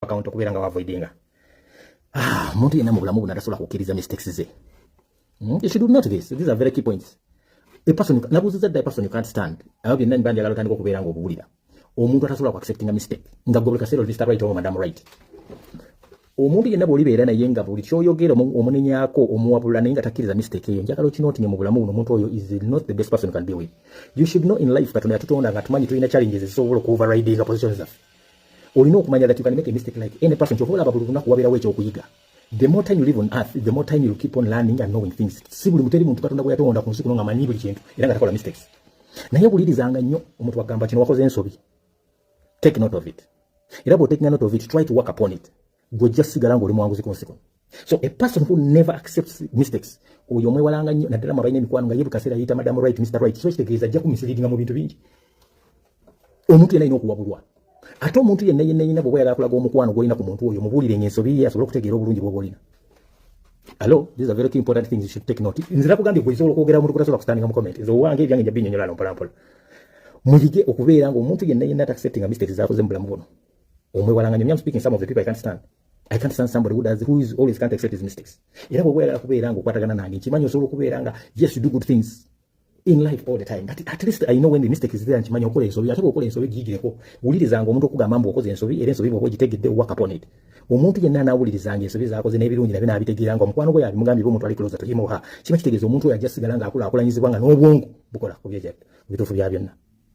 account okubeera nga wavoidinga ah, omuntu yenna mu bulamu buno atasobola kukkiriza mistakes ze hmm? you should note this these are very key points a person nabuuziza dda a person you can't stand abo byonna niba njagala otandika okubeera nga obuwulira omuntu atasobola ku acceptinga mistake nga gobuli kaseera oli mr right oba madam right omuntu yenna bwolibeera naye nga buli kyoyogera omunenyako omuwabula naye nga takkiriza mistake eyo njagala okinotinye mu bulamu buno omuntu oyo is not the best person can be with you should know in life katonda yatutonda nga tumanyi tulina challenges ezisobola okuoverridinga position zaffe olina okumanya that you can make a mistake like any person kyovola ababuli lunaku waberawo ekyokuyiga the more time you live on earth the more time you keep on learning and knowing things si buli muteri muntu katonda gweyatonda ku nsi kuno nga manyi buli kintu era nga takola mistakes naye wulirizanga nnyo omuntu agamba kino wakoze ensobi take note of it era bwotekinga note of it try to work upon it gwe ojja sigala nga oli mwanguzi kunsi kuno so a person who never accepts mistakes oyo omwewalanga nnyo naddala mwabalina emikwano nga ye bukaseera yeyita madamu right mr right so kitegeeza ajja kumisiliringa mu bintu bingi omuntu yena alina okuwabulwa ate omuntu yenna yenna yenna bwoba yagala kulaga omukwano gwolina ku muntu oyo mubuulire nga ensobi ye asobole okutegeera obulungi bwoba olina alo these are very key important things you should take note nze nakugambye gwe osobola okwogera omuntu kutasobola kustandinga mu comment nze owange ebyange nja binyonyola no mpolampola muyige okubeera nga omuntu yenna yenna atakusettinga mistakes zakoze mu bulamu buno omwewalanganyo me I'm speaking some of the people I can't stand I can't stand somebody who does who is always can't accept his mistakes era bwe wayagala kubeera nga okwatagana nange nkimanyi osobola okubeera nga yes you do good things in life all the time but at least I know when the mistake is there nkimanyi okola ensobi ate bwokola ensobi giyigireko wulirizanga omuntu okugamba mbu okoze ensobi era ensobi bwoba ogitegedde work upon it omuntu yenna anaawulirizanga ensobi zaakoze n'ebirungi nabyo naabitegeera nga omukwano gwe yabimugambye omuntu ali closer to him or her kiba kitegeeza omuntu oyo ajja sigala ng'akulaakulanyizibwa nga n'obwongo bukola ku byeja bituufu bya byonna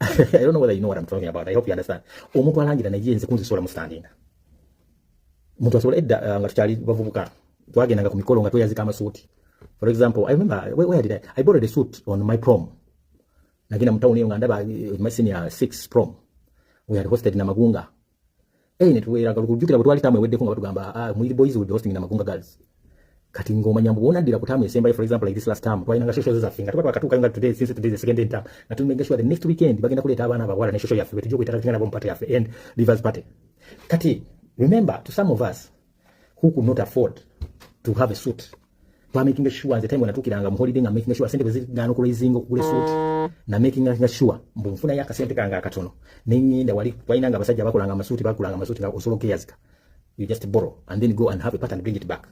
I don't know whether you know what I'm talking about. I hope you understand. Omuntu alangira naye nze kunzisola mu standing. Omuntu asobola edda uh, nga tukyali bavubuka twagendanga ku mikolo nga tweyazika amasuuti. For example, I remember where, where did I? I borrowed a suit on my prom. Nagenda mu town eyo nga ndaba eh, my senior 6 prom. We had hosted na Magunga. eh ne tuwera ga kujukira butwali tamu ewedde ko nga tugamba ah mwiri boys will be hosting na magunga girls kati ngoma nyambu bona dira kutamu esemba for example like this last time twalina ngasho shows za finga tuba bakatuka nga today since today the second day time na tume ngasho the next weekend bagenda kuleta abana abawala ne show ya fiwe tujukwe tatu ngana bompate ya fe and rivers party kati remember to some of us who could not afford to have a suit twa making sure nze time wanatukiranga mu holiday nga making sure sente bwezigana okulayizinga okugula suit na making sure mbu nfuna ya kasente kanga akatono nenyenda wali waina nga abasajja bakolanga amasuuti bakolanga amasuuti nga osolo keyazika you just borrow and then go and have a part and bring it back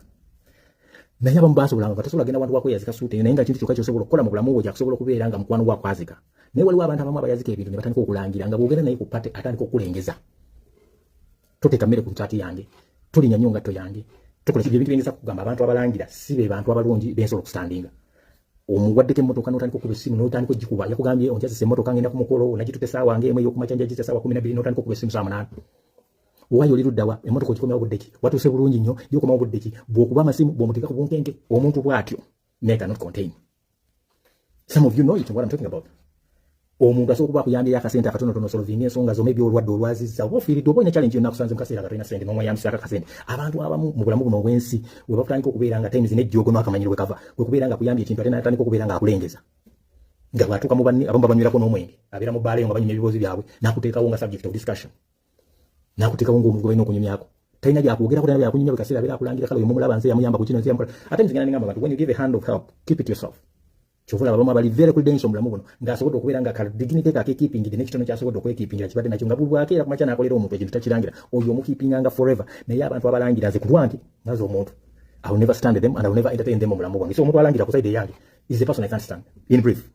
naye abamu basobolanga batasobola genda wantu wakweyazika suuti naye nga kintu kyokka kyosobola okukola mu bulamu bwo kyakusobola okubeera nga mukwano gwakwazika naye waliwo abantu abamu abayazika ebintu ne batandika okulangira nga bwogenda naye ku pate atandika okulengeza toteeka mmere ku nsaati yange tulinya nnyo ngatto yange tukola ebintu biyinza kugamba abantu abalangira si be bantu abalungi bensobola okusitandinga omuwaddeko emmotoka n'otandika okuba essimu n'otandika ogikuba yakugambye onjazisa emmotoka ngenda ku mukolo onagitutte essaawa nga emu ey'okumakya njagisa essaawa kumi nabbiri n'otandika okuba essimu saa munaana owaye oli luddawa emmotoka ogikomyawo budde ki watuuse bulungi nnyo gyokomawo budde ki bw'okuba amasimu bw'omuteeka ku bunkenke omuntu bw'atyo naye cannot contain some of you know it what I'm talking about omuntu asobola okuba akuyambyeyo akasente akatonotono osolovinga ensonga zoma ebyolwadde olwaziza oba ofiiridde oba olina challenge yonna akusanze mu kaseera nga tolina sente n'omweyambisako akasente abantu abamu mu bulamu buno obw'ensi we bakutandika okubeera nga times n'ejjoogo n'akamanyiro we kava kwe kubeera nga akuyambye ekintu ate n'atandika okubeera nga akulengeza nga bw'atuuka mu banne abamu babanywerako n'omwenge abeera mu bbaala eyo nga banyumya ebiboozi byabwe n'akuteekawo nga subject of discussion nakutekawo ng'omugoba ino okunyumyako talina byakwogeraku talina byakunyumya buli kaseera abeera akulangira kale oyo mumulaba nze yamuyamba ku kino nze yamukola ate nze ngenda nengamba abantu when you give a hand of help keep it yourself kyovula abamu abali very credential mulamu buno ng'asobodde okubeera nga kadiginite ke akekiipingidde n'ekitono kyasobodde okwekiipingira kibadde nakyo nga bulwako era kumakya n'akolera omuntu ekintu takirangira oyo omukiipinganga forever naye abantu abalangira nze ku lwange naze omuntu I will never stand them and I will never entertain them mu bulamu bwange so omuntu alangira ku side eyange is the person I can't stand in brief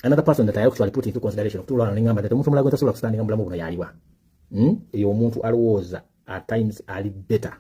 another person that I actually put into consideration okutuula wano nengamba that omuntu omulala gwe ntasobola kusitandinga mu bulamu buno yaliwa hmm? eyo omuntu alowooza at times ali better